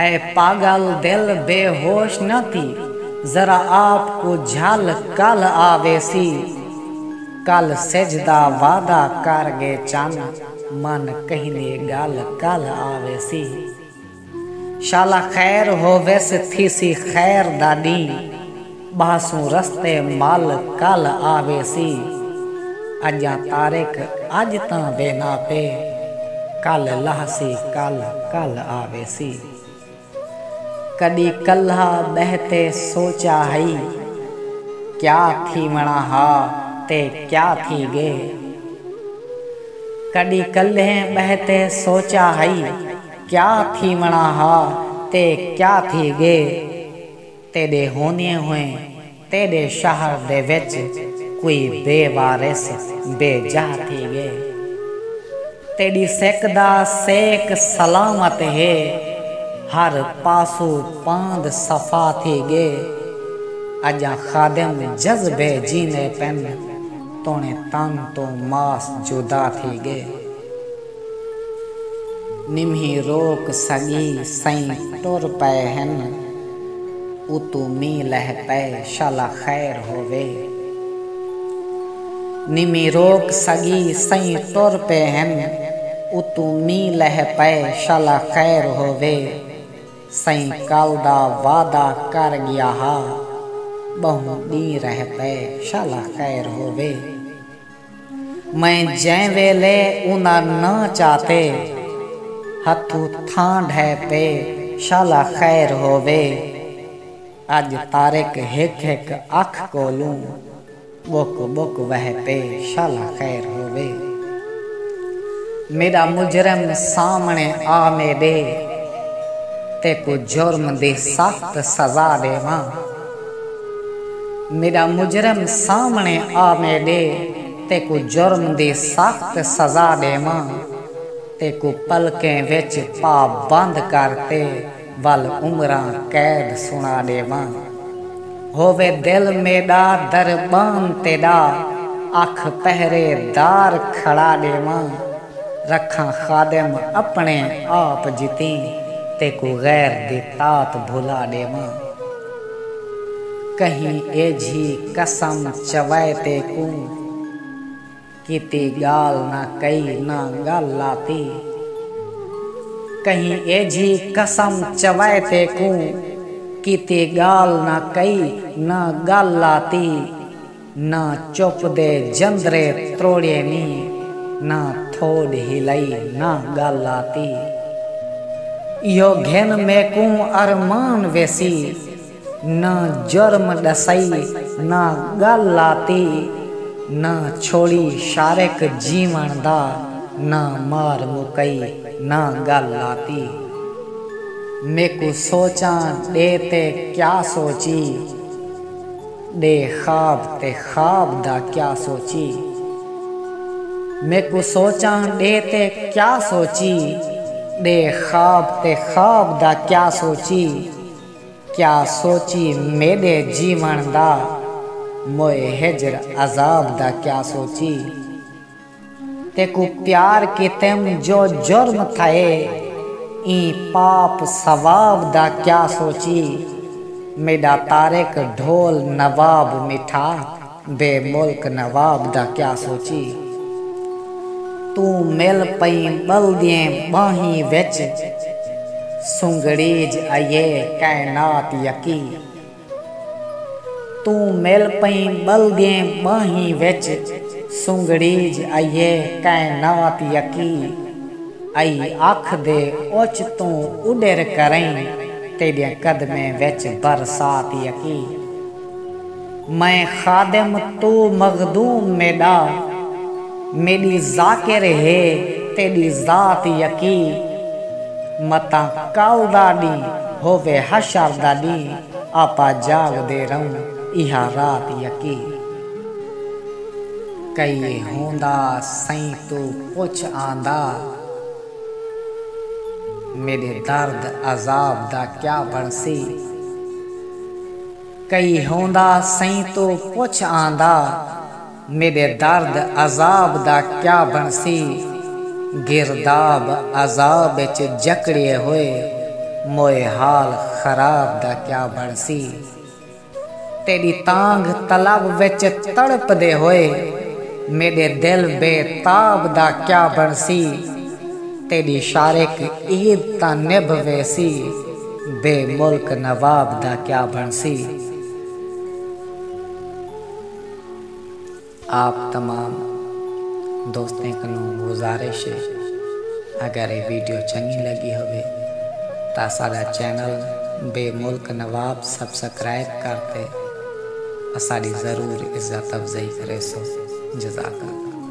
اے پاگل دل بے ہوش نہ تھی ذرا آپ کوں جھل کل آ ویسی کل سجھ دا وعدہ کر گے چن من کہندی گل کل آ ویسی شالا خیر ہوویس تھیسی خیر دا ڈینہہ۔ ٻہسوں رستے مل کل آ ویسی۔ اڄاں طارق اڄ تاں وینا پے۔ کل لہسی کل کل آ ویسی۔ کݙی کلھا ٻہہ تے سوچیا ہئی۔ کیا تھیوݨا ہا تے کیا تھی ڳئے۔ کݙی کلھے ٻہہ تے سوچیا ہئی۔ کیا تھیوݨا ہا تے کیا تھی ڳئے۔ تیݙے ہوندیں ہوئیں تیݙے شہر دے وچ کوئی بے وارث بے جاہ تھی ڳئے۔ تیݙی سک دا سیک سلامت ہے، ہر پاسو پاند صفا تھی ڳئے۔ اڄاں خادم جذبے جیندے پن، توݨے تن توں ماس جدا تھی ڳئے۔ نمہی روک سڳی سئیں ٹر پئے ہن اتوں مینہ لہہ پئے شالا خیر ہووے نمہی روک سڳی سئیں ٹر پئے ہن اتوں مینہ لہہ پئے شالا خیر ہووے سئیں کل دا وعدہ کر ڳیا ہا ٻہوں ݙینہ رہ پئے شالا خیر ہووے۔ میں جیں ویلے انہاں نہ چاتے ہتھوں تھاں ڈھے پے شالا خیر ہووے اج طارق ہک ہک اکھ کولوں بک بک وہ پے شالا خیر ہووے میڈا مجرم سامنے آ میڈے تیکوں جرم دی سخت سزا ڈیواں۔ میݙا مجرم سامݨے آ میݙے تیکوں جرم دی سخت سزا ݙیواں تیکوں پلکیں وچ پا بند کر تے ول عمراں قید سݨا ݙیواں ہووے دل میݙا دربان تیݙا اکھ پہرے دار کھڑا ݙیواں۔ رکھاں خادم اپݨے آپ جتیں تیکوں غیر دی طاعت بھلا ݙیواں کہیں ایجھی قسم چوائے تیکوں کیتی ڳالھ نہ کئی نہ ڳل لاتی کہیں ایجھی قسم چوائے تیکوں کیتی ڳالھ نہ کئی نہ ڳل لاتی۔ نہ چپ دے جندرے تروڑیے نی نہ تھوڈ ہلائی نہ گل آتی ایہو گھن میکوں ارمان ویسی نہ جرم ڈسائی نہ گل آتی نہ چھوڑی شارک جیون دا نہ مار مکئی نہ گل آتی میکوں سوچاں ڈے تے کیا سوچی۔ ݙے خواب تے خواب دا کیا سوچی میکوں سوچاں ݙے تے کیا سوچی ݙے خواب تے خواب دا کیا سوچی کیا سوچی میݙے جیوݨ دا موئے ہجر عذاب دا کیا سوچی۔ تیکوں پیار کیتیم جو جرم تھئے ایں پاپ ثواب دا کیا سوچی میڈا طارق ڈھول نواب میٹھا بے ملک نواب دا کیا سوچی توں مل پئیں بلدیں باہیں وچ سنگڑیج ائیے کائنات یکی۔ توں مل پئیں ٻلگیں ٻانہیں وچ سنگڑیج آئیے کائنات یکی آئی اکھ دے اوچ توں اڈر کرئیں تیڈیں قدمیں وچ برسات یکی میں خادم تو مخدوم میڈا میݙی ذاکر ہے تیݙی ذات یکی متاں کل دا ݙینہہ ہووے حشر دا ݙینہہ آپا جاڳدے رہوں ایہا رات یکی کئیے ہوندا سئیں توں پچھ آندا میݙے درد عذاب دا کیا بݨسی کئی ہوندا سئیں توں پچھ آندا۔ میݙے درد عذاب دا کیا بݨسی گرداب عذاب اچ جکڑیے ہوئے موئے حال خراب دا کیا بݨسی تیݙی تانگھ طلب وچ تڑپدے ہوئے میݙے دل بے تاب دا کیا بݨسی تیݙی شارک عید تاں نبھ ویسی بے ملک نواب دا کیا بݨسی۔ آپ تمام دوستیں کنوں گزارش ہے اگر اے ویڈیو چنگی لگی ہووے تاں اساڈا چینل بے ملک نواب سبسکرائب کر تے اساڈی ضرور عزت افزائی کریسو جزاک اللہ۔